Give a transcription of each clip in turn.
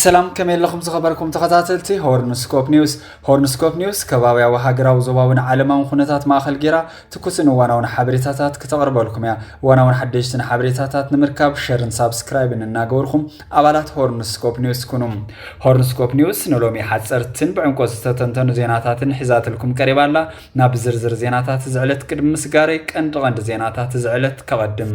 ሰላም ከመይ ኣለኹም ዝኸበርኩም ተኸታተልቲ ሆርንስኮፕ ኒውስ ሆርንስኮፕ ኒውስ ከባብያዊ ሃገራዊ ዞባውን ዓለማውን ኩነታት ማእኸል ጌራ ትኩስን እዋናውን ሓበሬታታት ክተቕርበልኩም እያ እዋናውን ሓደሽትን ሓበሬታታት ንምርካብ ሸርን ሳብስክራይብን እናገበርኩም ኣባላት ሆርንስኮፕ ኒውስ ኩኑ ሆርንስኮፕ ኒውስ ንሎሚ ሓፀርትን ብዕምቆ ዝተተንተኑ ዜናታትን ሒዛትልኩም ቀሪባ ኣላ ናብ ዝርዝር ዜናታት ዝዕለት ቅድሚ ምስጋረይ ቀንዲ ቀንዲ ዜናታት ዝዕለት ከቐድም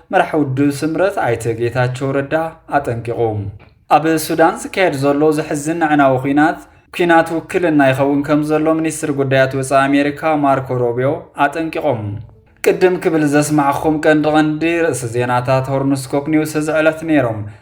መራሒ ውድብ ስምረት ኣይተ ጌታቸው ረዳ ኣጠንቂቑ። ኣብ ሱዳን ዝካየድ ዘሎ ዘሕዝን ኣዕናዊ ኲናት ኲናት ውክልና ይኸውን ከም ዘሎ ሚኒስትር ጉዳያት ወፃኢ ኣሜሪካ ማርኮ ሮቢዮ ኣጠንቂቖም። ቅድም ክብል ዘስማዕኹም ቀንዲ ቀንዲ ርእሲ ዜናታት ሆርንስኮፕ ኒውስ እዚ ዕለት ነይሮም።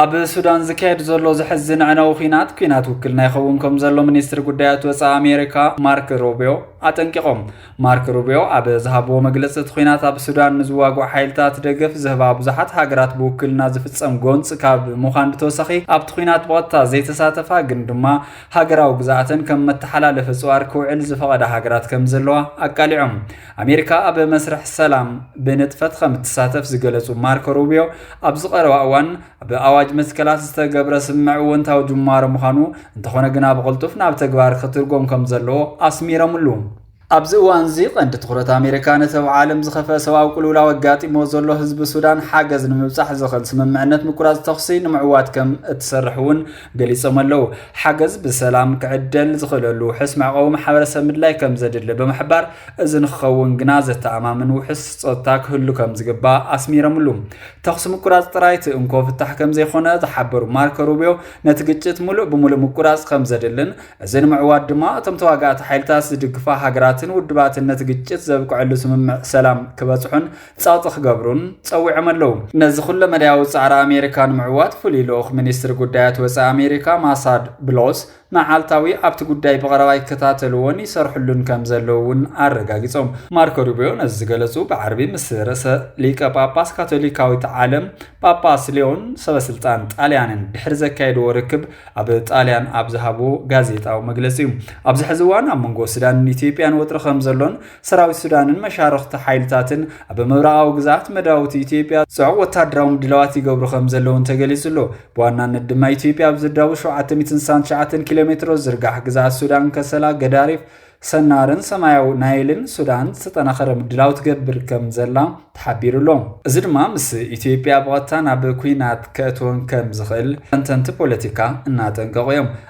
ኣብ ሱዳን ዝካየድ ዘሎ ዘሕዝን ኣዕናዊ ኲናት ኲናት ውክልና ይኸውን ከም ዘሎ ሚኒስትሪ ጉዳያት ወፃኢ ኣሜሪካ ማርክ ሩቢዮ ኣጠንቂቖም። ማርክ ሩቢዮ ኣብ ዝሃብዎ መግለፂ እቲ ኲናት ኣብ ሱዳን ንዝዋግዑ ሓይልታት ደገፍ ዝህባ ብዙሓት ሃገራት ብውክልና ዝፍፀም ጎንፂ ካብ ምዃን ብተወሳኺ ኣብቲ ኲናት ብቐጥታ ዘይተሳተፋ ግን ድማ ሃገራዊ ግዝኣተን ከም መተሓላለፊ ፅዋር ክውዕል ዝፈቐዳ ሃገራት ከም ዘለዋ ኣቃሊዖም። ኣሜሪካ ኣብ መስርሕ ሰላም ብንጥፈት ከም እትሳተፍ ዝገለጹ ማርኮ ሩቢዮ ኣብዚ ቀረባ እዋን ብኣዋጅ መትከላት ዝተገብረ ስምምዕ እወንታዊ ጅማሮ ምዃኑ እንተኾነ ግና ብቕልጡፍ ናብ ተግባር ክትርጎም ከም ዘለዎ ኣስሚረምሉ። ኣብዚ እዋንዚ ቀንዲ ትኹረት ኣሜሪካ ነቲ ኣብ ዓለም ዝኸፈ ሰብኣዊ ቅልውላው ኣጋጢሞ ዘሎ ህዝቢ ሱዳን ሓገዝ ንምብጻሕ ዝኽእል ስምምዕነት ምቁራጽ ተኹሲ ንምዕዋት ከም እትሰርሕ እውን ገሊፆም ኣለው። ሓገዝ ብሰላም ክዕደል ዝኽእለሉ ውሑስ መዕቆቢ ማሕበረሰብ ምድላይ ከምዘድሊ ብምሕባር፣ እዚ ንክኸውን ግና ዘተኣማምን ውሑስ ፀጥታ ክህሉ ከምዝግባእ ኣስሚረምሉ። ተኹሲ ምቁራፅ ጥራይ እቲ እንኮ ፍታሕ ከምዘይኾነ ዝሓበሩ ማርኮ ሩቢዮ፣ ነቲ ግጭት ሙሉእ ብሙሉእ ምቁራፅ ከምዘድልን እዚ ንምዕዋት ድማ እቶም ተዋጋእቲ ሓይልታት ዝድግፋ ሃገራትን ውድባትን ነቲ ግጭት ዘብቅዐሉ ስምምዕ ሰላም ክበፅሑን ጸቕጢ ክገብሩን ጸዊዖም ኣለዉ። ነዚ ኩለመዳያዊ ጻዕሪ ኣሜሪካ ንምዕዋት ፍሉይ ልኡኽ ሚኒስትሪ ጉዳያት ወጻኢ ኣሜሪካ ማሳድ ብሎስ መዓልታዊ ኣብቲ ጉዳይ ብቐረባ ይከታተልዎን ይሰርሕሉን ከም ዘለዉ እውን ኣረጋጊጾም። ማርኮ ሩቢዮ ነዚ ዝገለጹ ብዓርቢ ምስ ርእሰ ሊቀ ጳጳስ ካቶሊካዊት ዓለም ጳጳስ ሊዮን ሰበስልጣን ጣልያንን ድሕሪ ዘካየድዎ ርክብ ኣብ ጣልያን ኣብ ዝሃብዎ ጋዜጣዊ መግለጺ እዩ። ኣብዚ ሕዚ እዋን ኣብ መንጎ ሱዳንን ኢትዮጵያን ወጥሪ ከም ዘሎን ሰራዊት ሱዳንን መሻርኽቲ ሓይልታትን ኣብ ምብራቓዊ ግዝኣት መዳውቲ ኢትዮጵያ ጽዑቕ ወታደራዊ ምድላዋት ይገብሩ ከም ዘለውን ተገሊጹ ኣሎ። ብዋናነት ድማ ኢትዮጵያ ኣብ ዝዳቡ 769 ኪሎ ሜትሮ ዝርጋሕ ግዝኣት ሱዳን ከሰላ፣ ገዳሪፍ፣ ሰናርን ሰማያዊ ናይልን ሱዳን ዝተጠናኸረ ምድላው ትገብር ከም ዘላ ተሓቢሩ ኣሎ እዚ ድማ ምስ ኢትዮጵያ ብቐጥታ ናብ ኩናት ከእትወን ከም ዝኽእል ተንተንቲ ፖለቲካ እናጠንቀቑ እዮም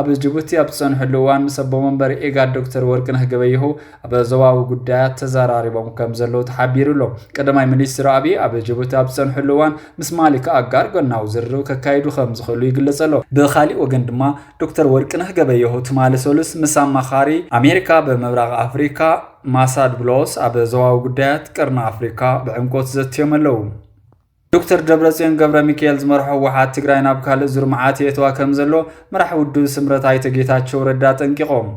ኣብ ጅቡቲ ኣብ ዝጸንሕሉ እዋን ምስ ኣቦ መንበር ኢጋድ ዶክተር ወርቅነህ ገበየሁ ኣብ ዞባዊ ጉዳያት ተዘራሪቦም ከም ዘለዉ ተሓቢሩ ኣሎ። ቀዳማይ ሚኒስትር ኣቢይ ኣብ ጅቡቲ ኣብ ዝጸንሕሉ እዋን ምስ ማሊክ ኣጋር ጎናዊ ዝርርብ ከካይዱ ከም ዝኽእሉ ይግለጽ ኣሎ። ብኻሊእ ወገን ድማ ዶክተር ወርቅነህ ገበየሁ ትማሊ ሰሉስ ምስ ኣማኻሪ ኣሜሪካ ኣብ ምብራቕ ኣፍሪካ ማሳድ ብሎስ ኣብ ዞባዊ ጉዳያት ቀርኒ ኣፍሪካ ብዕምቆት ዘትዮም ኣለዉ። ዶክተር ደብረፅዮን ገብረሚካኤል ዝመርሖ ህወሓት ትግራይ ናብ ካልእ ዙር መዓት የእትዋ ከም ዘሎ መራሕ ውድብ ስምረት ኣይተ ጌታቸው ረዳ ኣጠንቂቖም።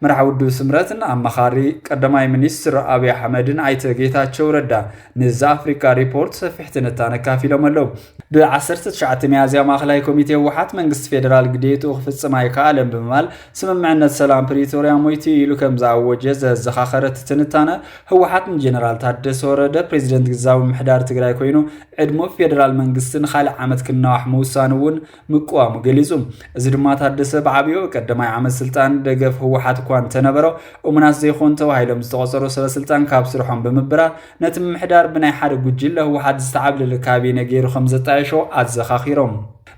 መራሕ ውድብ ስምረትን ኣማኻሪ ቀዳማይ ሚኒስትር ኣብዪ ኣሕመድን ኣይተ ጌታቸው ረዳ ንዛ ኣፍሪካ ሪፖርት ሰፊሕ ትንታነ ኣካፊሎም ኣለዉ። ብ19 ሚያዝያ ማእኸላይ ኮሚቴ ህወሓት መንግስቲ ፌዴራል ግዴትኡ ክፍፅም ኣይከኣለን ብምባል ስምምዕነት ሰላም ፕሪቶርያ ሞይቱ ኢሉ ከም ዝኣወጀ ዘዘኻኸረ እቲ ትንታነ ህወሓት ንጀነራል ታደሰ ወረደ ፕሬዚደንት ግዛዊ ምሕዳር ትግራይ ኮይኑ ዕድሙ ፌዴራል መንግስቲ ንካልእ ዓመት ክናዋሕ ምውሳኑ እውን ምቅዋሙ ገሊፁ። እዚ ድማ ታደሰ ብዓብዩ ኣብ ቀዳማይ ዓመት ስልጣን ደገፍ ህወሓት እኳ እንተነበሮ እሙናት ዘይኮኑ ተባሂሎም ዝተቖፀሩ ሰበስልጣን ካብ ስርሖም ብምብራር ነቲ ምምሕዳር ብናይ ሓደ ጉጅለ ህወሓት ዝተዓብለለ ካቢነ ገይሩ ከምዘጣየሾ ኣዘኻኺሮም።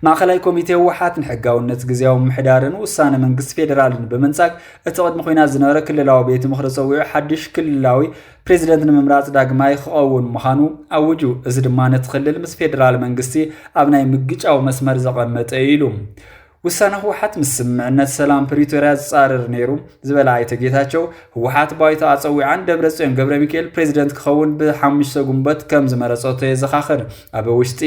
ማእኸላይ ኮሚቴ ህወሓት ንሕጋውነት ግዜያዊ ምምሕዳርን ውሳነ መንግስቲ ፌዴራልን ብምንጻግ እቲ ቅድሚ ኩናት ዝነበረ ክልላዊ ቤት ምኽሪ ፀዊዑ ሓድሽ ክልላዊ ፕሬዚደንት ንምምራፅ ዳግማይ ክኸውን ምዃኑ ኣውጁ። እዚ ድማ ነቲ ክልል ምስ ፌዴራል መንግስቲ ኣብ ናይ ምግጫው መስመር ዘቐመጠ እዩ ኢሉ። ውሳነ ህወሓት ምስ ስምምዕነት ሰላም ፕሪቶርያ ዝፃረር ነይሩ ዝበለ ኣይተ ጌታቸው ህወሓት ባይቶ ኣጸዊዓን ደብረጽዮን ገብረሚካኤል ፕሬዚደንት ክኸውን ብሓሙሽተ ግንቦት ከም ዝመረጸቶ የዘኻኽር። ኣብ ውሽጢ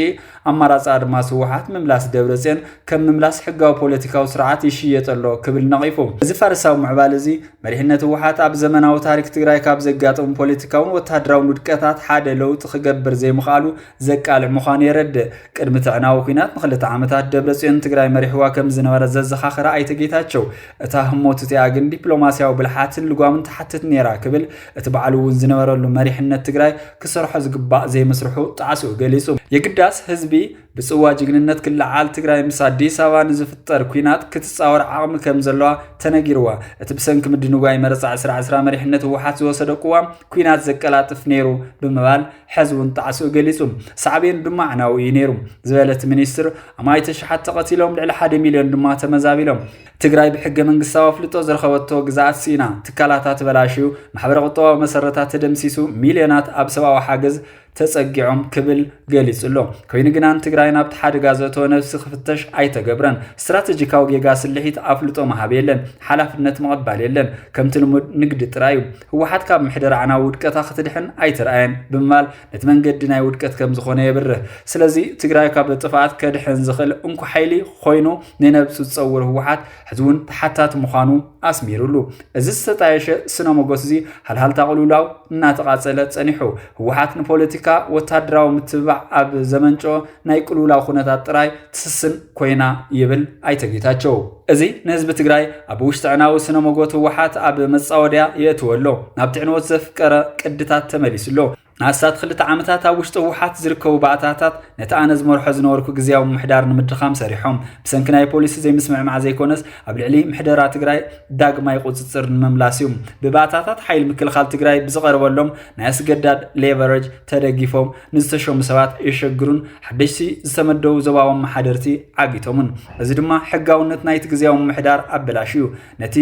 ኣማራጺ ኣድማስ ህወሓት ምምላስ ደብረጽዮን ከም ምምላስ ሕጋዊ ፖለቲካዊ ስርዓት ይሽየጥ ኣሎ ክብል ነቒፉ። እዚ ፋርሳዊ ምዕባል እዚ መሪሕነት ህወሓት ኣብ ዘመናዊ ታሪክ ትግራይ ካብ ዘጋጠሙ ፖለቲካውን ወተሃደራውን ውድቀታት ሓደ ለውጢ ክገብር ዘይምኽኣሉ ዘቃልዕ ምዃኑ የረድእ። ቅድሚ ትዕናዊ ኲናት ንክልተ ዓመታት ደብረጽዮን ትግራይ መሪሕዋ ከም ዝነበረ ዘዘኻኸረ ኣይተ ጌታቸው እታ ህሞት እቲኣ ግን ዲፕሎማስያዊ ብልሓትን ልጓምን ትሓትት ነይራ ክብል እቲ ባዕሉ እውን ዝነበረሉ መሪሕነት ትግራይ ክሰርሖ ዝግባእ ዘይምስርሑ ጣዕስኡ ገሊፁ። የግዳስ ህዝቢ ብፅዋ ጅግንነት ክለዓል ትግራይ ምስ ኣዲስ ኣበባ ንዝፍጠር ኲናት ክትፃወር ዓቕሚ ከም ዘለዋ ተነጊርዋ። እቲ ብሰንኪ ምድንጓይ መረፃ ዕስራ ዕስራ መሪሕነት ህወሓት ዝወሰዶ ቅዋም ኲናት ዘቀላጥፍ ነይሩ ብምባል ሐዚ እውን ጣዕስኡ ገሊፁ። ሳዕቤኑ ድማ ኣዕናዊ እዩ ነይሩ ዝበለ እቲ ሚኒስትር፣ ኣማኢት ኣሽሓት ተቐቲሎም፣ ልዕሊ ሓደ ሚልዮን ድማ ተመዛቢሎም። ትግራይ ብሕገ መንግስታዊ ኣፍልጦ ዝረኸበቶ ግዝኣት ስኢና፣ ትካላታ ተበላሽዩ፣ ማሕበረ ቁጠባዊ መሰረታ ተደምሲሱ፣ ሚልዮናት ኣብ ሰብኣዊ ሓገዝ ተፀጊዖም ክብል ገሊፁ ኣሎ። ኮይኑ ግና ንትግራይ ናብቲ ሓደጋ ዘእተወ ነብሲ ክፍተሽ ኣይተገብረን። ስትራተጂካዊ ጌጋ ስልሒት ኣፍልጦ ምሃብ የለን፣ ሓላፍነት ምቕባል የለን፣ ከምቲ ልሙድ ንግዲ ጥራይ እዩ። ህወሓት ካብ ምሕደራኣና ውድቀታ ክትድሕን ኣይትርኣየን ብምባል ነቲ መንገዲ ናይ ውድቀት ከም ዝኾነ የብርህ። ስለዚ ትግራይ ካብ ጥፍኣት ከድሕን ዝኽእል እንኮ ሓይሊ ኾይኑ ንነብሱ ዝፀውር ህወሓት ሕዚ እውን ተሓታቲ ምዃኑ ኣስሚርሉ። እዚ ዝተጣየሸ ስነ ሞጎት እዚ ሃልሃልታ ቅልውላው እናተቓፀለ ፀኒሑ። ህወሓት ንፖለቲካ ወታደራዊ ምትብባዕ ኣብ ዘመንጨኦ ናይ ቅልውላው ኩነታት ጥራይ ትስስን ኮይና ይብል ኣይተ ጌታቸው። እዚ ንህዝቢ ትግራይ ኣብ ውሽጥዕናዊ ስነ ሞጎት ህወሓት ኣብ መጻወድያ የእትዎ ኣሎ። ናብ ትዕንወት ዘፍቀረ ቅድታት ተመሊሱ ኣሎ። ንኣስታት ክልተ ዓመታት ኣብ ውሽጢ ህወሓት ዝርከቡ ባእታታት ነቲ ኣነ ዝመርሖ ዝነበርኩ ግዝያዊ ምምሕዳር ንምድኻም ሰሪሖም። ብሰንኪ ናይ ፖሊሲ ዘይምስምዕማዕ ዘይኮነስ ኣብ ልዕሊ ምሕደራ ትግራይ ዳግማይ ቁፅፅር ንምምላስ እዩ። ብባእታታት ሓይሊ ምክልኻል ትግራይ ብዝቐርበሎም ናይ ኣስገዳድ ሌቨረጅ ተደጊፎም ንዝተሸሙ ሰባት የሸግሩን ሓደሽቲ ዝተመደቡ ዞባዊ ኣመሓደርቲ ዓጊቶምን እዚ ድማ ሕጋውነት ናይቲ ግዜያዊ ምምሕዳር ኣበላሽዩ ነቲ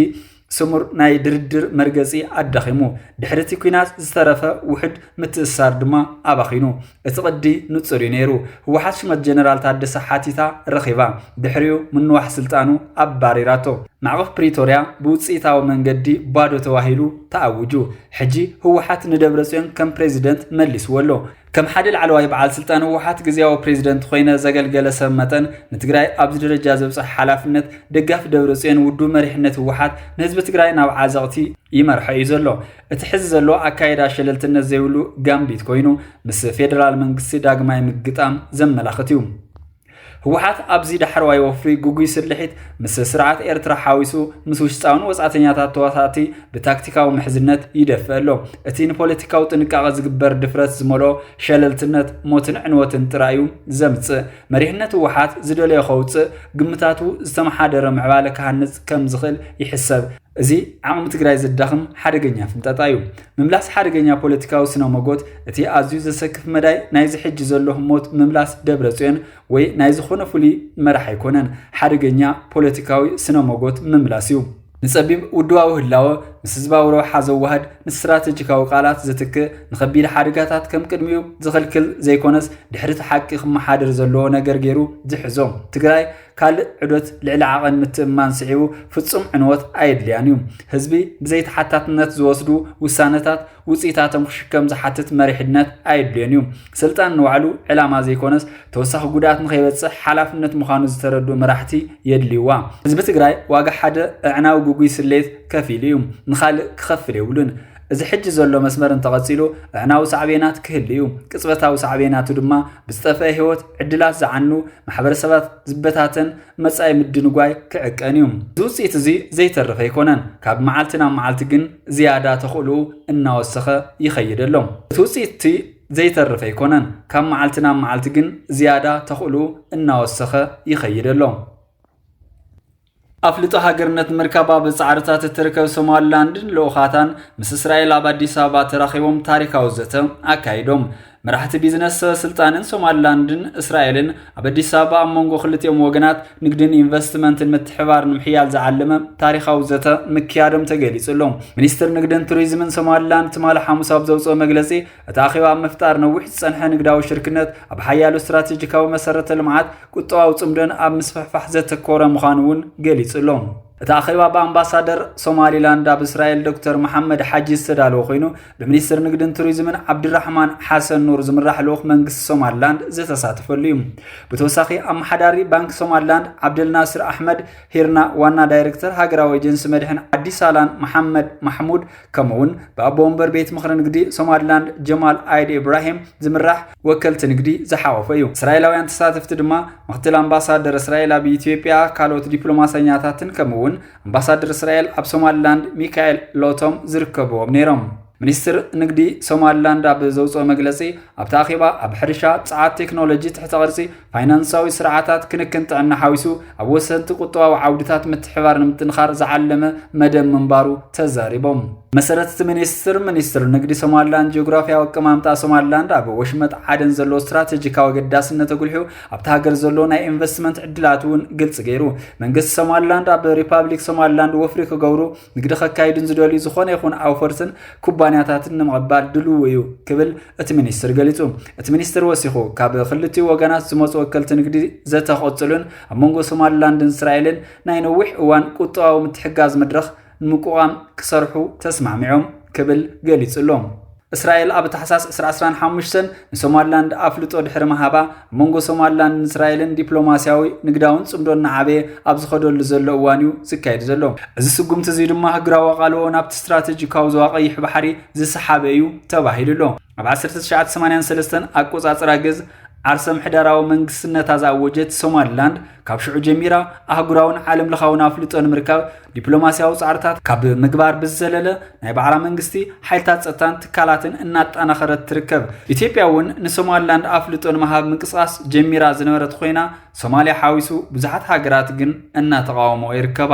ስሙር ናይ ድርድር መርገጺ ኣዳኺሙ ድሕሪ እቲ ኲናት ዝተረፈ ውሕድ ምትእስሳር ድማ ኣባኺኑ እቲ ቅዲ ንጹር እዩ ነይሩ ህወሓት ሹመት ጀነራል ታደሰ ሓቲታ ረኺባ ድሕሪኡ ምንዋሕ ስልጣኑ ኣባሪራቶ ማዕቐፍ ፕሪቶርያ ብውፅኢታዊ መንገዲ ባዶ ተባሂሉ ተኣውጁ ሕጂ ህወሓት ንደብረጽዮን ከም ፕሬዚደንት መሊስዎ ኣሎ። ከም ሓደ ላዕለዋይ በዓል ስልጣን ህወሓት ግዝያዊ ፕሬዚደንት ኮይነ ዘገልገለ ሰብ መጠን ንትግራይ ኣብዚ ደረጃ ዘብፀሐ ሓላፍነት ደጋፊ ደብረጽዮን ውዱብ መሪሕነት ህወሓት ንህዝቢ ትግራይ ናብ ዓዘቕቲ ይመርሖ እዩ ዘሎ። እቲ ሕዚ ዘሎ ኣካይዳ ሸለልትነት ዘይብሉ ጋምቢት ኮይኑ ምስ ፌደራል መንግስቲ ዳግማይ ምግጣም ዘመላኽት እዩ። ህወሓት ኣብዚ ዳሕረዋይ ወፍሪ ግጉይ ስርሒት ምስ ስርዓት ኤርትራ ሓዊሱ ምስ ውሽጣውን ወጻእተኛታት ተዋሳእቲ ብታክቲካዊ ምሕዝነት ይደፍእ ኣሎ እቲ ንፖለቲካዊ ጥንቃቐ ዝግበር ድፍረት ዝመልኦ ሸለልትነት ሞትን ዕንወትን ጥራይ እዩ ዘምጽእ መሪሕነት ህወሓት ዝደለዮ ከውጽእ ግምታቱ ዝተመሓደረ ምዕባለ ክሃንጽ ከም ዝኽእል ይሕሰብ እዚ ዓቕሚ ትግራይ ዘዳኽም ሓደገኛ ፍንጠጣ እዩ። ምምላስ ሓደገኛ ፖለቲካዊ ስነ ሞጎት እቲ ኣዝዩ ዘሰክፍ መዳይ ናይዚ ሕጂ ዘሎ ህሞት ምምላስ ደብረጽዮን ወይ ናይ ዝኾነ ፍሉይ መራሕ ኣይኮነን፣ ሓደገኛ ፖለቲካዊ ስነ ሞጎት ምምላስ እዩ። ንጸቢብ ውድባዊ ህላወ ምስ ህዝባዊ ረብሓ ዘዋህድ፣ ንስትራተጂካዊ ቃላት ዝትክእ፣ ንኸቢድ ሓደጋታት ከም ቅድሚኡ ዝኽልክል ዘይኮነስ ድሕሪ እቲ ሓቂ ክመሓደር ዘለዎ ነገር ገይሩ ዝሕዞ። ትግራይ ካልእ ዑደት ልዕሊ ዓቐን ምትእምማን ስዒቡ ፍጹም ዕንወት ኣየድልያን እዩ። ህዝቢ ብዘይተሓታትነት ዝወስዱ ውሳነታት ውጽኢታቶም ክሽከም ዝሓትት መሪሕነት ኣየድልዮን እዩ። ስልጣን ንባዕሉ ዕላማ ዘይኮነስ ተወሳኺ ጉድኣት ንኸይበጽሕ ሓላፍነት ምዃኑ ዝተረድኡ መራሕቲ የድልዩዋ። ህዝቢ ትግራይ ዋጋ ሓደ ኣዕናዊ ግጉይ ስሌት ከፊሉ እዩ። ንኻልእ ክኸፍል የብሉን። እዚ ሕጂ ዘሎ መስመር እንተቐጺሉ ኣዕናዊ ሳዕቤናት ክህሉ እዩ። ቅጽበታዊ ሳዕቤናቱ ድማ ብዝጠፍአ ህይወት፣ ዕድላት ዝዓኑ፣ ማሕበረሰባት ዝበታተን መጻኢ ምድንጓይ ክዕቀን እዩ። እዚ ውጽኢት እዚ ዘይተርፍ ኣይኮነን፣ ካብ መዓልቲ ናብ መዓልቲ ግን ዝያዳ ተኽእሎኡ እናወሰኸ ይኸይድ ኣሎ። እቲ ውጽኢት እቲ ዘይተርፍ ኣይኮነን፣ ካብ መዓልቲ ናብ መዓልቲ ግን ዝያዳ ተኽእሎኡ እናወሰኸ ይኸይድ ኣሎ። ኣፍልጦ ሃገርነት ምርካብ ኣብ ጻዕርታት እትርከብ ሶማሊላንድን ልኡኻታን ምስ እስራኤል ኣብ ኣዲስ ኣበባ ተራኺቦም ታሪካዊ ዘተ ኣካይዶም። መራሕቲ ቢዝነስ ሰበስልጣንን ሶማሊላንድን እስራኤልን ኣብ ኣዲስ ኣበባ ኣብ መንጎ ክልቲኦም ወገናት ንግድን ኢንቨስትመንትን ምትሕባር ንምሕያል ዝዓለመ ታሪኻዊ ዘተ ምክያዶም ተገሊጹ ኣሎ። ሚኒስትር ንግድን ቱሪዝምን ሶማሊላንድ ትማሊ ሓሙስ ኣብ ዘውፅኦ መግለፂ እቲ ኣኼባ ኣብ ምፍጣር ነዊሕ ዝጸንሐ ንግዳዊ ሽርክነት፣ ኣብ ሓያሎ ስትራቴጂካዊ መሰረተ ልምዓት፣ ቁጠባዊ ጽምዶን ኣብ ምስፍሕፋሕ ዘተኮረ ምዃኑ እውን ገሊጹ ኣሎ። እቲ ኣኼባ ብኣምባሳደር ሶማሊላንድ ኣብ እስራኤል ዶክተር መሓመድ ሓጂ ዝተዳለወ ኮይኑ ብሚኒስትር ንግድን ቱሪዝምን ዓብድራሕማን ሓሰን ኑር ዝምራሕ ልኡኽ መንግስቲ ሶማሊላንድ ዝተሳተፈሉ እዩ። ብተወሳኺ ኣመሓዳሪ ባንኪ ሶማሊላንድ ዓብደልናስር ኣሕመድ ሂርና፣ ዋና ዳይሬክተር ሃገራዊ ኤጀንሲ መድሕን ዓዲ ሳላን መሓመድ ማሕሙድ፣ ከምኡ እውን ብኣቦ ወንበር ቤት ምኽሪ ንግዲ ሶማሊላንድ ጀማል ኣይድ ኢብራሂም ዝምራሕ ወከልቲ ንግዲ ዝሓወፈ እዩ እስራኤላውያን ተሳተፍቲ ድማ ምክትል ኣምባሳደር እስራኤል ኣብ ኢትዮጵያ ካልኦት ዲፕሎማሰኛታትን ከምኡ እውን ኣምባሳደር እስራኤል ኣብ ሶማሊላንድ ሚካኤል ሎቶም ዝርከብዎም ነይሮም ሚኒስትር ንግዲ ሶማሊላንድ ኣብ ዘውፅኦ መግለፂ ኣብቲ ኣኼባ ኣብ ሕርሻ ፀዓት ቴክኖሎጂ ትሕተ ቅርፂ ፋይናንሳዊ ስርዓታት ክንክን ጥዕና ሓዊሱ ኣብ ወሰንቲ ቁጠባዊ ዓውድታት ምትሕባር ንምጥንኻር ዝዓለመ መደብ ምንባሩ ተዛሪቦም። መሰረት እቲ ሚኒስትር፣ ሚኒስትር ንግዲ ሶማሊላንድ ጂኦግራፊያዊ ኣቀማምጣ ሶማሊላንድ ኣብ ወሽመጥ ዓደን ዘለዎ ስትራቴጂካዊ ኣገዳስነት ኣጉልሑ ኣብቲ ሃገር ዘሎ ናይ ኢንቨስትመንት ዕድላት እውን ግልፂ ገይሩ። መንግስቲ ሶማሊላንድ ኣብ ሪፓብሊክ ሶማሊላንድ ወፍሪ ክገብሩ ንግዲ ከካይዱን ዝደልዩ ዝኾነ ይኹን ኣውፈርትን ኩባንያታትን ንምቕባል ድልው እዩ ክብል እቲ ሚኒስትር ገሊጹ። እቲ ሚኒስትር ወሲኹ ካብ ክልቲኡ ወገናት ዝመጹ ወከልቲ ንግዲ ዘተ ክቕጽሉን ኣብ መንጎ ሶማሊላንድን እስራኤልን ናይ ነዊሕ እዋን ቁጠባዊ ምትሕግጋዝ መድረኽ ንምቁቛም ክሰርሑ ተስማዕሚዖም ክብል ገሊጹ ኣሎ። እስራኤል ኣብ ታሕሳስ ዕስራ ዕስራን ሓሙሽተን ንሶማልላንድ ኣፍልጦ ድሕሪ ምሃባ መንጎ ሶማልላንድን እስራኤልን ዲፕሎማስያዊ ንግዳውን ጽምዶ እናዓበየ ኣብ ዝኸደሉ ዘሎ እዋን እዩ ዝካየድ ዘሎ እዚ ስጉምቲ እዚ ድማ ህግራዊ ኣቓልቦ ናብቲ ስትራቴጂካዊ ዞባ ቀይሕ ባሕሪ ዝሰሓበ እዩ ተባሂሉ ኣሎ ኣብ 1983 ኣቆጻጽራ ግዝ ዓርሰ ምሕደራዊ መንግስትነታ ዝኣወጀት ሶማልላንድ ካብ ሽዑ ጀሚራ ኣህጉራውን ዓለም ለኻውን ኣፍልጦ ንምርካብ ዲፕሎማስያዊ ፃዕርታት ካብ ምግባር ብዝዘለለ ናይ ባዕላ መንግስቲ ሓይልታት ፀጥታን ትካላትን እናጠናኸረት ትርከብ። ኢትዮጵያ እውን ንሶማሊላንድ ኣፍልጦ ንምሃብ ምንቅስቓስ ጀሚራ ዝነበረት ኮይና ሶማሊያ ሓዊሱ ብዙሓት ሃገራት ግን እናተቓወምኦ ይርከባ።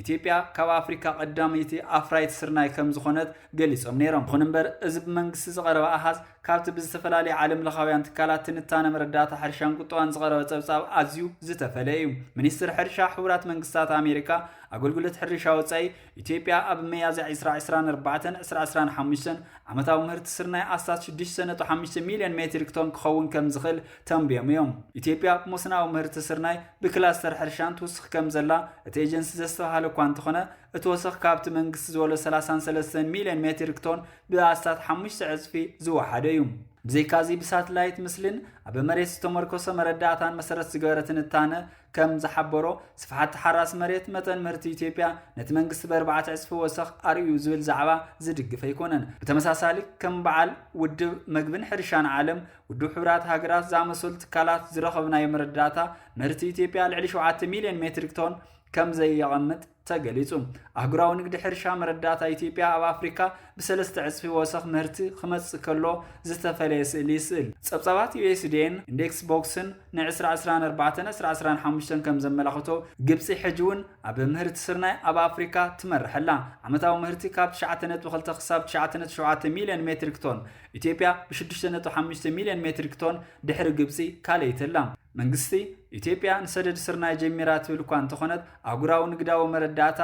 ኢትዮጵያ ካብ ኣፍሪካ ቀዳመይቲ ኣፍራይት ስርናይ ከምዝኾነት ገሊፆም ነይሮም። ይኹን እምበር እዚ ብመንግስቲ ዝቐረበ ኣሃዝ ካብቲ ብዝተፈላለዩ ዓለም ለኻውያን ትካላት ትንታነ መረዳእታ ሕርሻን ቁጠባን ዝቐረበ ፀብፃብ ኣዝዩ ዝተፈለየ እዩ። ሚኒስትር ሕርሻ ሕቡራት መንግስታት ኣሜሪካ ኣገልግሎት ሕርሻ ወፃኢ ኢትዮጵያ ኣብ መያዝያ 2024 2025 ዓመታዊ ምህርቲ ስርናይ ኣስታት 6.5 ሚሊዮን ሜትሪክ ቶን ክኸውን ከምዝኽእል ተንብዮም እዮም። ኢትዮጵያ ኣብ ሞስናዊ ምህርቲ ስርናይ ብክላስተር ሕርሻን ትውስኽ ከምዘላ እቲ ኤጀንሲ ዘስተብሃለ እኳ እንተኾነ እቲ ወሰኽ ካብቲ መንግስቲ ዝበሎ ሰላሳን ሰለስተን ሚሊዮን ሜትሪክ ቶን ብኣስታት ሓሙሽተ ዕፅፊ ዝወሓደ እዩ። ብዘይካዚ ብሳትላይት ምስሊን ኣብ መሬት ዝተመርኮሰ መረዳእታን መሰረት ዝገበረ ትንታነ ከም ዝሓበሮ ስፍሓት ተሓራሲ መሬት መጠን ምህርቲ ኢትዮጵያ ነቲ መንግስቲ በርባዕተ ዕፅፊ ወሰኽ ኣርእዩ ዝብል ዛዕባ ዝድግፍ ኣይኮነን። ብተመሳሳሊ ከም በዓል ውድብ መግብን ሕርሻን ዓለም ውድብ ሕብራት ሃገራት ዝኣመሰሉ ትካላት ዝረኸብናዮ መረዳእታ ምህርቲ ኢትዮጵያ ልዕሊ 7 ሚልዮን ሜትሪክ ቶን ከም ዘየቐምጥ ተገሊጹ ኣህጉራዊ ንግዲ ሕርሻ መረዳእታ ኢትዮጵያ ኣብ ኣፍሪካ ብሰለስተ ዕፅፊ ወሰኽ ምህርቲ ክመፅእ ከሎ ዝተፈለየ ስእሊ ይስእል ጸብጻባት ዩኤስዲኤን ኢንዴክስ ቦክስን ን2024-2025 ከም ዘመላኽቶ ግብፂ ሕጂ እውን ኣብ ምህርቲ ስርናይ ኣብ ኣፍሪካ ትመርሐላ ዓመታዊ ምህርቲ ካብ 9.2 ክሳብ 9.7 ሚልዮን ሜትሪክ ቶን ኢትዮጵያ ብሽዱሽተ ነጥቢ ሓሙሽተ ሚልዮን ሜትሪክ ቶን ድሕሪ ግብፂ ካልኣይቲ ኣላ። መንግስቲ ኢትዮጵያ ንሰደድ ስርናይ ጀሚራ ትብል እኳ እንተኾነት ኣህጉራዊ ንግዳዊ መረዳእታ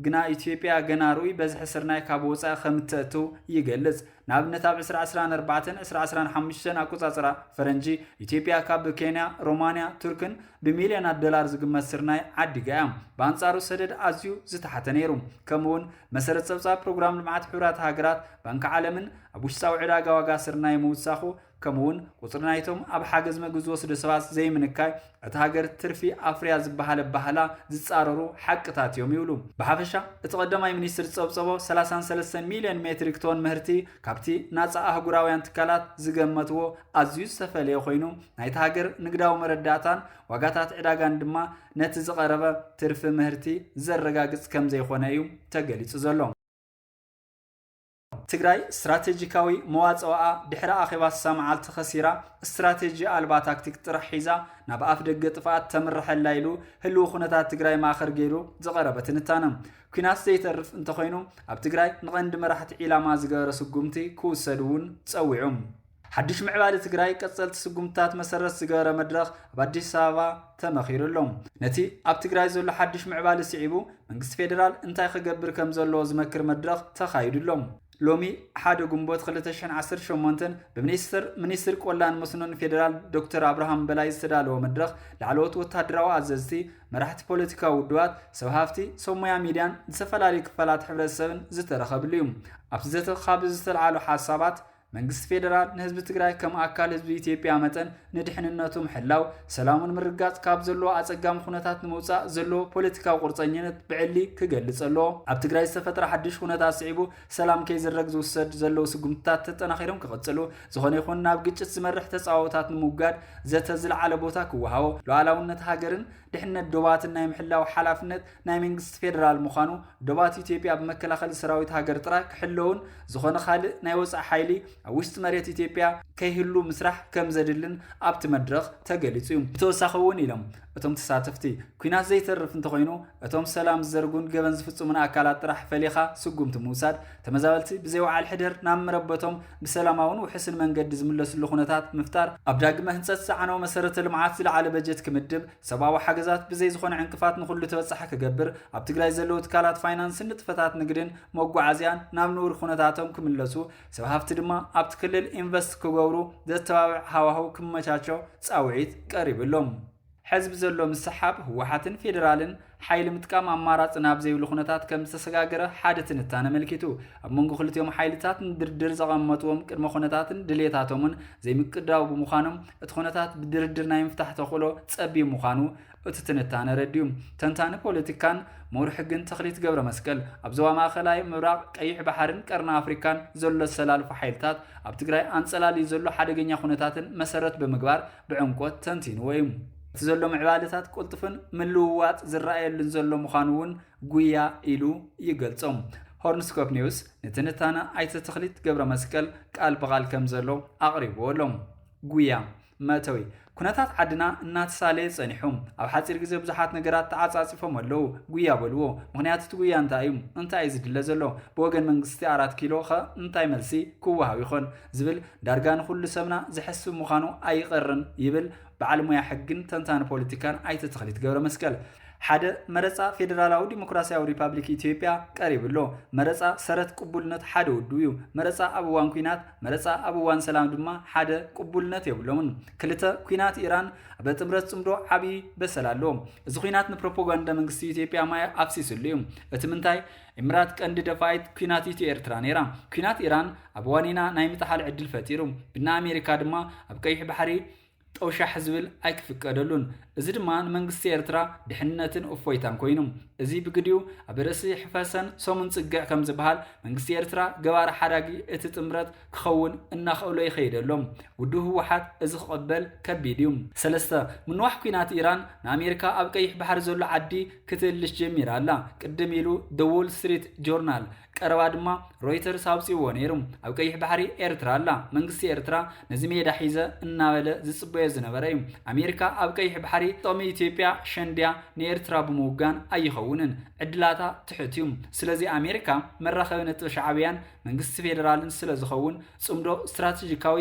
ግና ኢትዮጵያ ገና ርኡይ በዝሒ ስርናይ ካብ ወፃኢ ከምተእትው ይገልፅ። ንኣብነት ኣብ ዕስራ ዕስራን ኣርባዕተን ዕስራ ዕስራን ሓሙሽተን ኣቆፃፅራ ፈረንጂ ኢትዮጵያ ካብ ኬንያ፣ ሮማንያ፣ ቱርክን ብሚልዮናት ዶላር ዝግመት ስርናይ ዓዲጋ እያ። ብኣንፃሩ ሰደድ ኣዝዩ ዝተሓተ ነይሩ ከምኡ'ውን መሰረት ጸብጻብ ፕሮግራም ልምዓት ሕቡራት ሃገራት ባንኪ ዓለምን ኣብ ውሽጣዊ ዕዳጋ ዋጋ ስርናይ ምውሳኹ ከምኡውን ቁጽሪ ናይቶም ኣብ ሓገዝ መግቢ ዝወስዱ ሰባት ዘይምንካይ እታ ሃገር ትርፊ ኣፍርያ ዝበሃለ ባህላ ዝጻረሩ ሓቅታት እዮም ይብሉ። ብሓፈሻ እቲ ቀዳማይ ሚኒስትር ዝጸብጸቦ 33 ሚልዮን ሜትሪክ ቶን ምህርቲ ካብቲ ናጻ ኣህጉራውያን ትካላት ዝገመትዎ ኣዝዩ ዝተፈለየ ኮይኑ ናይታ ሃገር ንግዳዊ መረዳእታን ዋጋታት ዕዳጋን ድማ ነቲ ዝቐረበ ትርፊ ምህርቲ ዘረጋግፅ ከምዘይኾነ እዩ ተገሊፁ ዘሎ። ትግራይ ስትራቴጂካዊ መዋፅኦኣ ድሕሪ ኣኼባ ስሳ መዓልቲ ከሲራ ስትራቴጂ ኣልባ ታክቲክ ጥራሕ ሒዛ ናብ ኣፍ ደገ ጥፍኣት ተምርሐላ ኢሉ ህልው ኩነታት ትግራይ ማእኸር ገይሩ ዝቐረበ ትንታነ ኩናት ዘይተርፍ እንተኾይኑ ኣብ ትግራይ ንቐንዲ መራሕቲ ዒላማ ዝገበረ ስጉምቲ ክውሰድ እውን ፀዊዑ ሓድሽ ምዕባለ ትግራይ ቀፀልቲ ስጉምትታት መሰረት ዝገበረ መድረኽ ኣብ ኣዲስ ኣበባ ተመኺሩ ኣሎ። ነቲ ኣብ ትግራይ ዘሎ ሓድሽ ምዕባለ ስዒቡ መንግስቲ ፌዴራል እንታይ ክገብር ከም ዘለዎ ዝመክር መድረኽ ተኻይዱ ኣሎ። ሎሚ ሓደ ግንቦት ክልተ ሽሕን ዓሰርተ ሸሞንተን ብሚኒስትር ሚኒስትር ቆላን መስኖን ፌዴራል ዶክተር ኣብርሃም በላይ ዝተዳለወ መድረኽ ላዕለዎት ወታደራዊ ኣዘዝቲ፣ መራሕቲ ፖለቲካዊ ውድባት፣ ሰብ ሃፍቲ፣ ሰብ ሞያ ሚድያን ዝተፈላለዩ ክፋላት ሕብረተሰብን ዝተረኸብሉ እዩ። ኣብቲ ዘተ ካብ ዝተልዓሉ ሓሳባት መንግስቲ ፌዴራል ንህዝቢ ትግራይ ከም ኣካል ህዝቢ ኢትዮጵያ መጠን ንድሕንነቱ ምሕላው፣ ሰላሙን ምርጋጽ ካብ ዘለዎ ኣጸጋሚ ኩነታት ንምውጻእ ዘለዎ ፖለቲካዊ ቁርጸኝነት ብዕሊ ክገልጽ ኣለዎ። ኣብ ትግራይ ዝተፈጥረ ሓድሽ ኩነታት ስዒቡ ሰላም ከይዝረግ ዝውሰድ ዘለዉ ስጉምትታት ተጠናኺሮም ክቕጽሉ፣ ዝኾነ ይኹን ናብ ግጭት ዝመርሕ ተጻብኦታት ንምውጋድ ዘተ ዝለዓለ ቦታ ክወሃቦ፣ ሉዓላውነት ሃገርን ድሕነት ዶባትን ናይ ምሕላው ሓላፍነት ናይ መንግስቲ ፌደራል ምዃኑ፣ ዶባት ኢትዮጵያ ብመከላኸሊ ሰራዊት ሃገር ጥራይ ክሕለዉን ዝኾነ ካልእ ናይ ወጻኢ ሓይሊ ኣብ ውሽጢ መሬት ኢትዮጵያ ከይህሉ ምስራሕ ከምዘድልን ኣብቲ መድረኽ ተገሊጹ እዩ። ብተወሳኺ እውን ኢሎም እቶም ተሳተፍቲ፣ ኲናት ዘይተርፍ እንተኾይኑ እቶም ሰላም ዝዘርጉን ገበን ዝፍጽሙን ኣካላት ጥራሕ ፈሊኻ ስጉምቲ ምውሳድ፣ ተመዛበልቲ ብዘይ ወዓል ሕደር ናብ መረበቶም ብሰላማውን ውሕስን መንገዲ ዝምለስሉ ኩነታት ምፍጣር፣ ኣብ ዳግመ ህንፀት ዝዓነወ መሰረተ ልምዓት ዝለዓለ በጀት ክምድብ፣ ሰብኣዊ ሓገዛት ብዘይ ዝኾነ ዕንቅፋት ንኹሉ ተበፃሒ ክገብር፣ ኣብ ትግራይ ዘለዉ ትካላት ፋይናንስን ንጥፈታት ንግድን መጓዓዝያን ናብ ንቡር ኩነታቶም ክምለሱ፣ ሰብ ሃፍቲ ድማ ኣብቲ ክልል ኢንቨስት ክገብሩ ዘተባብዕ ሃዋህው ክመቻቾ ፃውዒት ቀሪቡ ኣሎ። ሕዚ ብዘሎ ምስሕሓብ ህወሓትን ፌደራልን ሓይሊ ምጥቃም ኣማራፂ ናብ ዘይብሉ ኩነታት ከም ዝተሰጋገረ ሓደ ትንታነ ኣመልኪቱ። ኣብ መንጎ ክልቲኦም ሓይልታት ንድርድር ዘቐመጥዎም ቅድመ ኩነታትን ድሌታቶምን ዘይምቅዳው ብምዃኖም እቲ ኩነታት ብድርድር ናይ ምፍታሕ ተኽእሎ ፀቢብ ምዃኑ እቲ ትንታነ ኣረዲኡ። ተንታኒ ፖለቲካን ምሁር ሕግን ተኽሊት ገብረመስቀል ኣብ ዞባ ማእኸላይ ምብራቕ፣ ቀይሕ ባሕሪን ቀርኒ ኣፍሪካን ዘሎ ዝተሰላልፉ ሓይልታት ኣብ ትግራይ ኣንፀላልዩ ዘሎ ሓደገኛ ኩነታትን መሰረት ብምግባር ብዕምቆት ተንቲንዎ እዩ። እቲ ዘሎ ምዕባለታት ቅልጡፍን ምልውዋጥ ዝረኣየሉን ዘሎ ምዃኑ እውን ጉያ ኢሉ ይገልጾ። ሆርንስኮፕ ኒውስ ንትንታነ ኣይተ ተኽሊት ገብረ መስቀል ቃል ብቓል ከም ዘሎ ኣቕሪብዎ ኣሎ። ጉያ መእተዊ ኩነታት ዓድና እናተሳለየ ጸኒሑ ኣብ ሓፂር ግዜ ብዙሓት ነገራት ተዓጻጺፎም ኣለዉ። ጉያ በልዎ። ምክንያቱ እቲ ጉያ እንታይ እዩ? እንታይ እዩ ዝድለ ዘሎ? ብወገን መንግስቲ ኣራት ኪሎ ኸ እንታይ መልሲ ክወሃብ ይኾን? ዝብል ዳርጋ ንኹሉ ሰብና ዘሕስብ ምዃኑ ኣይቐርን ይብል በዓል ሙያ ሕግን ተንታኒ ፖለቲካን ኣይተ ተኽሊት ገብረመስቀል። ሓደ፣ መረፃ ፌዴራላዊ ዲሞክራሲያዊ ሪፓብሊክ ኢትዮጵያ ቀሪቡ ኣሎ። መረፃ ሰረት ቅቡልነት ሓደ ውድብ እዩ። መረፃ ኣብ እዋን ኲናት፣ መረፃ ኣብ እዋን ሰላም ድማ ሓደ ቅቡልነት የብሎምን። ክልተ፣ ኲናት ኢራን ኣብ ጥምረት ፅምዶ ዓብዪ በሰላ ኣለዎ። እዚ ኲናት ንፕሮፓጋንዳ መንግስቲ ኢትዮጵያ ማይ ኣፍሲስሉ እዩ። እቲ ምንታይ? ኢምራት ቀንዲ ደፋኢት ኲናት ኢትዮ ኤርትራ ነይራ። ኲናት ኢራን ኣብ ዋኒና ናይ ምጥሓል ዕድል ፈጢሩ፣ ብናይ ኣሜሪካ ድማ ኣብ ቀይሕ ባሕሪ ጠውሻሕ ዝብል ኣይክፍቀደሉን። እዚ ድማ ንመንግስቲ ኤርትራ ድሕንነትን እፎይታን ኮይኑ፣ እዚ ብግዲኡ ኣብ ርእሲ ሕፈሰን ሰሙን ጽግዕ ከምዝበሃል መንግስቲ ኤርትራ ገባሪ ሓዳጊ እቲ ጥምረት ክኸውን እናኸእሎ ይኸይድ ኣሎ። ውድብ ህወሓት እዚ ክቕበል ከቢድ እዩ። ሰለስተ ምንዋሕ ኩናት ኢራን ንኣሜሪካ ኣብ ቀይሕ ባሕሪ ዘሎ ዓዲ ክትእልሽ ጀሚራ ኣላ። ቅድም ኢሉ ደ ዎል ስትሪት ጆርናል ቀረባ ድማ ሮይተርስ ኣውፅዎ ነይሩ። ኣብ ቀይሕ ባሕሪ ኤርትራ ኣላ። መንግስቲ ኤርትራ ነዚ ሜዳ ሒዘ እናበለ ዝፅበዮ ዝነበረ እዩ። ኣሜሪካ ኣብ ቀይሕ ባሕሪ ጥቕሚ ኢትዮጵያ ሸንዲያ ንኤርትራ ብምውጋን ኣይኸውንን። ዕድላታ ትሑት እዩ። ስለዚ ኣሜሪካ መራኸቢ ነጥቢ ሻዕብያን መንግስቲ ፌዴራልን ስለ ዝኸውን ጽምዶ ስትራቴጂካዊ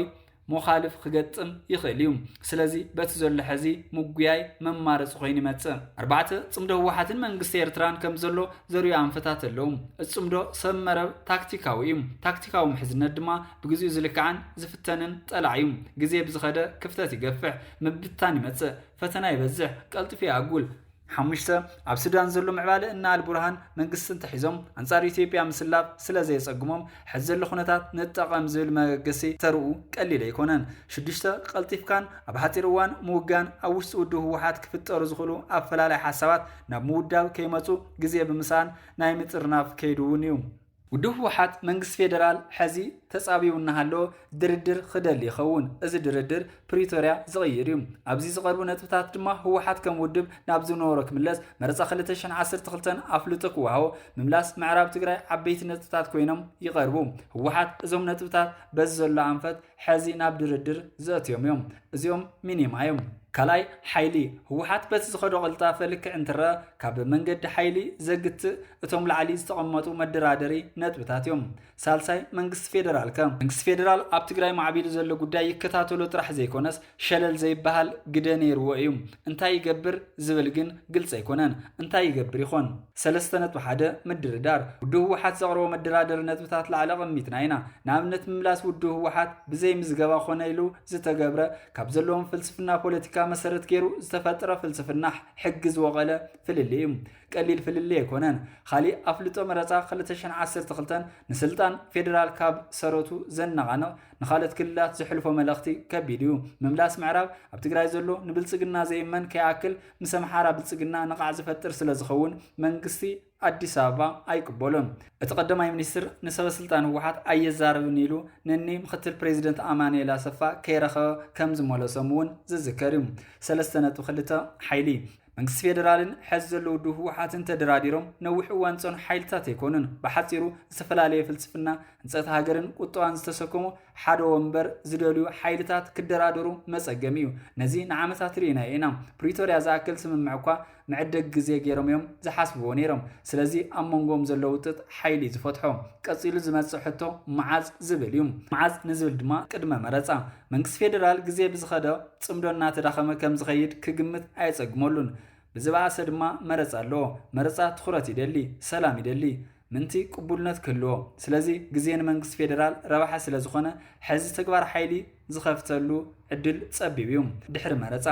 ሞኻልፍ ክገጥም ይኽእል እዩ ስለዚ በቲ ዘሎ ሕዚ ምጉያይ መማረፂ ኮይኑ ይመፅእ ኣርባዕተ ፅምዶ ህወሓትን መንግስቲ ኤርትራን ከም ዘሎ ዘርዩ ኣንፈታት ኣለዉ እቲ ፅምዶ ሰብ መረብ ታክቲካዊ እዩ ታክቲካዊ ምሕዝነት ድማ ብግዚኡ ዝልክዓን ዝፍተንን ጠላዕ እዩ ግዜ ብዝኸደ ክፍተት ይገፍሕ ምብታን ይመፅእ ፈተና ይበዝሕ ቀልጢፉ ይኣጉል ሓሙሽተ፣ ኣብ ሱዳን ዘሎ ምዕባለ እነ ኣልቡርሃን መንግስቲ እንተሒዞም ኣንጻር ኢትዮጵያ ምስላፍ ስለ ዘየጸግሞም ሕዚ ዘሎ ኩነታት ንጠቐም ዝብል መበገሲ ተርኡ ቀሊል ኣይኮነን። ሽዱሽተ፣ ቀልጢፍካን ኣብ ሓጺር እዋን ምውጋን ኣብ ውሽጢ ውድብ ህወሓት ክፍጠሩ ዝኽእሉ ኣፈላላይ ሓሳባት ናብ ምውዳብ ከይመጹ ግዜ ብምስኣን ናይ ምጥርናፍ ከይዲ እውን እዩ። ውድብ ህወሓት መንግስቲ ፌደራል ሐዚ ተፃብዩ እናሃለወ ድርድር ኽደሊ ይኸውን። እዚ ድርድር ፕሪቶርያ ዝቕይር እዩ። ኣብዚ ዝቐርቡ ነጥብታት ድማ ህወሓት ከም ውድብ ናብ ዝነበሮ ክምለስ፣ መረፃ ክልተ ሽሕን ዓሰርተ ክልተን ኣፍልጦ ክወሃቦ፣ ምምላስ ምዕራብ ትግራይ ዓበይቲ ነጥብታት ኮይኖም ይቐርቡ። ህወሓት እዞም ነጥብታት በዚ ዘሎ ኣንፈት ሐዚ ናብ ድርድር ዘእትዮም እዮም እዚኦም ሚኒማ እዮም። ካልኣይ ሓይሊ ህወሓት በቲ ዝኸዶ ቅልጣፈ ልክዕ እንትረኣ ካብ መንገዲ ሓይሊ ዘግትእ እቶም ላዕሊ ዝተቐመጡ መደራደሪ ነጥብታት እዮም። ሳልሳይ መንግስቲ ፌደራል ከ? መንግስቲ ፌደራል ኣብ ትግራይ ማዕቢሉ ዘሎ ጉዳይ ይከታተሎ ጥራሕ ዘይኮነስ ሸለል ዘይበሃል ግደ ነይርዎ እዩ። እንታይ ይገብር ዝብል ግን ግልፂ ኣይኮነን። እንታይ ይገብር ይኾን? ሰለስተ ነጥቢ ሓደ፣ ምድርዳር። ውድብ ህወሓት ዘቕረቦ መደራደሪ ነጥብታት ላዕሊ ኣቐሚጥና ኢና። ንኣብነት ምምላስ ውድብ ህወሓት ብዘይ ምዝገባ ኮነ ኢሉ ዝተገብረ ካብ ዘለዎም ፍልስፍና ፖለቲካ መሰረት ገይሩ ዝተፈጥረ ፍልስፍና ሕጊ ዝወቐለ ፍልልይ እዩ። ቀሊል ፍልልይ ኣይኮነን። ኻሊእ ኣፍልጦ መረፃ ክልተ ሽሕን ዓሰርተ ክልተን ንስልጣን ፌደራል ካብ ሰረቱ ዘነቓንቕ ንካልኦት ክልላት ዘሕልፎ መልእኽቲ ከቢድ እዩ። ምምላስ ምዕራብ ኣብ ትግራይ ዘሎ ንብልፅግና ዘይእመን ከይኣክል ምስ ኣምሓራ ብልፅግና ነቓዕ ዝፈጥር ስለዝኸውን መንግስቲ ኣዲስ ኣበባ ኣይቅበሎን። እቲ ቀዳማይ ሚኒስትር ንሰበስልጣን ህወሓት ኣየዛርብን ኢሉ ንኒ ምክትል ፕሬዚደንት ኣማኑኤል ኣሰፋ ከይረኸበ ከምዝመለሶም እውን ዝዝከር እዩ። ሰለስተ ነጥቢ ክልተ ሓይሊ መንግስቲ ፌደራልን ሐዚ ዘሎ ውድብ ህወሓትን ተደራዲሮም ነዊሕ እዋን ዝፀንሑ ሓይልታት ኣይኮኑን። ብሓፂሩ ዝተፈላለየ ፍልስፍና ህንፀት ሃገርን ቁጠባን ዝተሰከሙ ሓደ ወንበር ዝደልዩ ሓይልታት ክደራደሩ መፀገሚ እዩ። ነዚ ንዓመታት ርኢናዮ ኢና። ፕሪቶርያ ዝኣክል ስምምዕ እኳ መዕደግ ግዜ ገይሮም እዮም ዝሓስብዎ ነይሮም። ስለዚ ኣብ መንጎኦም ዘሎ ውጥጥ ሓይሊ እዩ ዝፈትሖ። ቀፂሉ ዝመፅእ ሕቶ መዓዝ ዝብል እዩ። መዓዝ ንዝብል ድማ ቅድመ መረፃ መንግስቲ ፌደራል ግዜ ብዝኸደ ፅምዶ እናተዳኸመ ከምዝኸይድ ክግምት ኣየፀግመሉን። ብዝበኣሰ ድማ መረፃ ኣለዎ። መረፃ ትኹረት ይደሊ፣ ሰላም ይደሊ፣ ምእንቲ ቅቡልነት ክህልዎ። ስለዚ ግዜ ንመንግስቲ ፌደራል ረብሓ ስለዝኾነ ሕዚ ተግባር ሓይሊ ዝኸፍተሉ ዕድል ፀቢብ እዩ። ድሕሪ መረፃ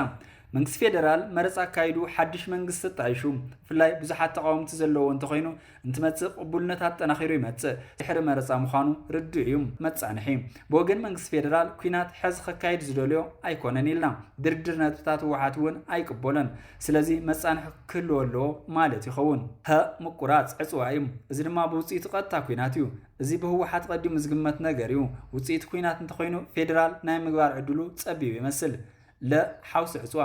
መንግስቲ ፌደራል መረፃ ኣካይዱ ሓዱሽ መንግስቲ ተጣይሹ ብፍላይ ብዙሓት ተቓወምቲ ዘለዎ እንተኾይኑ እንትመጽእ ቅቡልነት ኣጠናኺሩ ይመጽእ። ድሕሪ መረጻ ምዃኑ ርዱእ እዩ። መጻንሒ ብወገን መንግስቲ ፌደራል ኩናት ሕዚ ከካይድ ዝደልዮ ኣይኮነን ኢልና። ድርድር ነጥብታት ህወሓት እውን ኣይቅበሎን። ስለዚ መጻንሒ ክህልዎ ኣለዎ ማለት ይኸውን። ሀ ምቁራጽ ዕጽዋ እዩ። እዚ ድማ ብውጽኢቱ ቀጥታ ኩናት እዩ። እዚ ብህወሓት ቐዲሙ ዝግመት ነገር እዩ። ውጽኢቱ ኩናት እንተኾይኑ ፌደራል ናይ ምግባር ዕድሉ ጸቢብ ይመስል። ለ ሓውሲ ዕፅዋ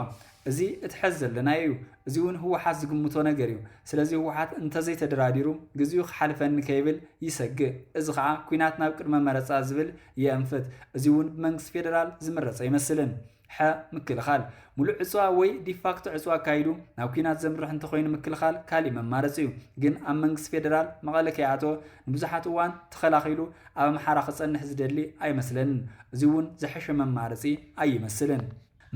እዚ እቲ ሐዚ ዘለናዮ እዩ እዚ እውን ህወሓት ዝግምቶ ነገር እዩ ስለዚ ህወሓት እንተዘይተደራዲሩ ግዚኡ ክሓልፈኒ ከይብል ይሰግእ እዚ ከዓ ኩናት ናብ ቅድመ መረፃ ዝብል የእንፍት እዚ እውን ብመንግስቲ ፌደራል ዝምረፅ ኣይመስልን ሐ ምክልኻል ሙሉእ ዕፅዋ ወይ ዲፋክቶ ዕፅዋ ኣካይዱ ናብ ኩናት ዘምርሕ እንተኾይኑ ምክልኻል ካሊእ መማረፂ እዩ ግን ኣብ መንግስቲ ፌደራል መቐለ ከይኣተወ ንብዙሓት እዋን ተኸላኺሉ ኣብ ኣምሓራ ክጸንሕ ዝደሊ ኣይመስለንን እዚ ውን ዝሐሸ መማረጺ ኣይመስልን።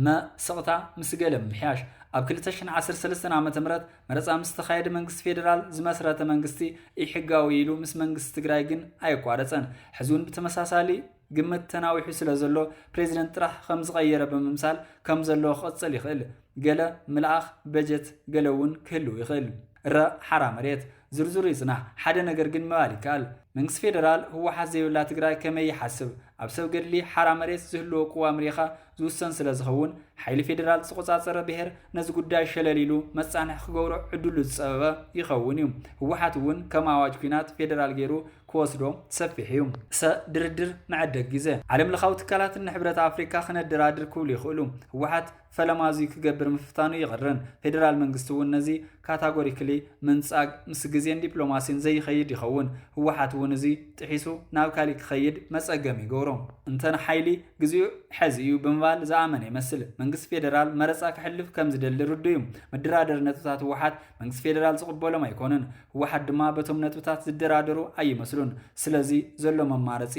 መ ስቕታ ምስ ገለ ምምሕያሽ። ኣብ ክልተ ሽሕን ዓሰርተ ሰለስተን ዓመተ ምህረት መረፃ ምስ ተኻየደ መንግስቲ ፌደራል ዝመስረተ መንግስቲ ኢሕጋዊ ኢሉ ምስ መንግስቲ ትግራይ ግን ኣየቋረፀን። ሕዚ እውን ብተመሳሳሊ ግምት ተናዊሑ ስለዘሎ ፕሬዚደንት ጥራሕ ከምዝቐየረ ብምምሳል ከምዘሎ ክቕፅል ይኽእል። ገለ ምልኣኽ በጀት ገለ እውን ክህልው ይኽእል እረ ሓራ መሬት። ዝርዝሩ ይፅናሕ ሓደ ነገር ግን ምባል ይከኣል መንግስቲ ፌደራል ህወሓት ዘይብላ ትግራይ ከመይ ይሓስብ ኣብ ሰብ ገድሊ ሓራ መሬት ዝህልዎ ቅዋም ሪኢኻ ዝውሰን ስለዝኸውን ሓይሊ ፌደራል ዝተቖፃፀረ ብሄር ነዚ ጉዳይ ሸለል ኢሉ መፃንሒ ክገብሮ ዕድሉ ዝፀበበ ይኸውን እዩ ህወሓት እውን ከም ኣዋጅ ኩናት ፌደራል ገይሩ ክወስዶ ሰፊሕ እዩ። ሰ ድርድር መዐደግ ግዘ ዓለም ለኻዊ ትካላት እነ ሕብረት ኣፍሪካ ክነደራድር ክብሉ ይኽእሉ ህወሓት ፈለማ እዙይ ክገብር ምፍታኑ ይቕርን። ፌደራል መንግስቲ እውን ነዚ ካታጎሪክሊ ምንጻግ ምስ ግዜን ዲፕሎማሲን ዘይኸይድ ይኸውን። ህወሓት እውን እዙይ ጥሒሱ ናብ ካሊእ ክኸይድ መፀገሚ ይገብሮ። እንተ ንሓይሊ ግዜኡ ሐዚ እዩ ብምባል ዝኣመነ ይመስል። መንግስቲ ፌደራል መረፃ ከሕልፍ ከምዝደሊ ርዱእ እዩ። መደራደሪ ነጥብታት ህወሓት መንግስቲ ፌደራል ዝቕበሎም ኣይኮኑን። ህወሓት ድማ በቶም ነጥብታት ዝደራደሩ ኣይመስሉን። ስለዚ ዘሎ መማረፂ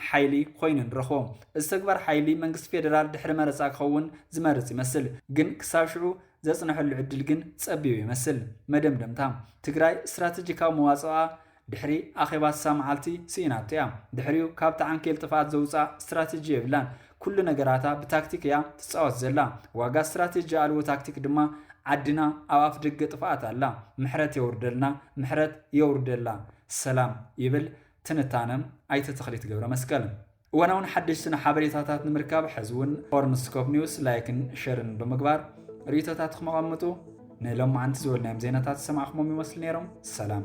ሓይሊ ኾይኑ ንረኽቦ። እዚ ተግባር ሓይሊ መንግስቲ ፌደራል ድሕሪ መረፃ ክኸውን ዝመርፅ ይመስል። ግን ክሳብ ሽዑ ዘፅነሐሉ ዕድል ግን ፀቢብ ይመስል። መደምደምታ፣ ትግራይ ስትራቴጂካዊ መዋፅኦኣ ድሕሪ ኣኼባ ስሳ መዓልቲ ስኢናቶ እያ። ድሕሪኡ ካብቲ ዓንኬል ጥፍኣት ዘውፅኣ ስትራቴጂ የብላን። ኩሉ ነገራታ ብታክቲክ እያ ትፃወት ዘላ። ዋጋ ስትራቴጂ ኣልቦ ታክቲክ ድማ ዓድና ኣብ ኣፍደገ ጥፍኣት ኣላ። ምሕረት የውርደልና፣ ምሕረት የውርደላ። ሰላም ይብል ትንታነ ኣይተ ተኽሊት ገብረመስቀል። እዋናውን ሓደሽትን ሓበሬታታት ንምርካብ ሕዚ እውን ፎርም ስኮፕ ኒውስ ላይክን ሸርን ብምግባር ርእቶታትኹም ኣቐምጡ። ንሎማዓንቲ ዝበልናዮም ዜናታት ዝሰማዕኹሞም ይመስሉ ነይሮም። ሰላም